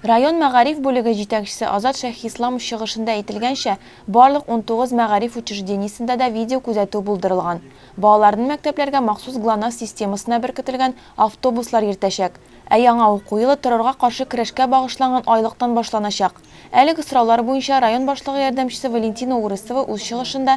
Район мәгариф бүлеге җитәкчесе Азат Шәйхисламов чыгышында әйтелгәнчә, барлык унтугыз мәгариф учреждениесендә дә видеокүзәтү булдырылган. Балаларны мәктәпләргә махсус ГЛОНАСС системасына беркетелгән автобуслар йөртәчәк. Ә яңа уку елы террорга каршы көрәшкә багышланган айлыктан башланачак. Әлеге сораулар буенча район башлыгы ярдәмчесе Валентина Урысова үз чыгышында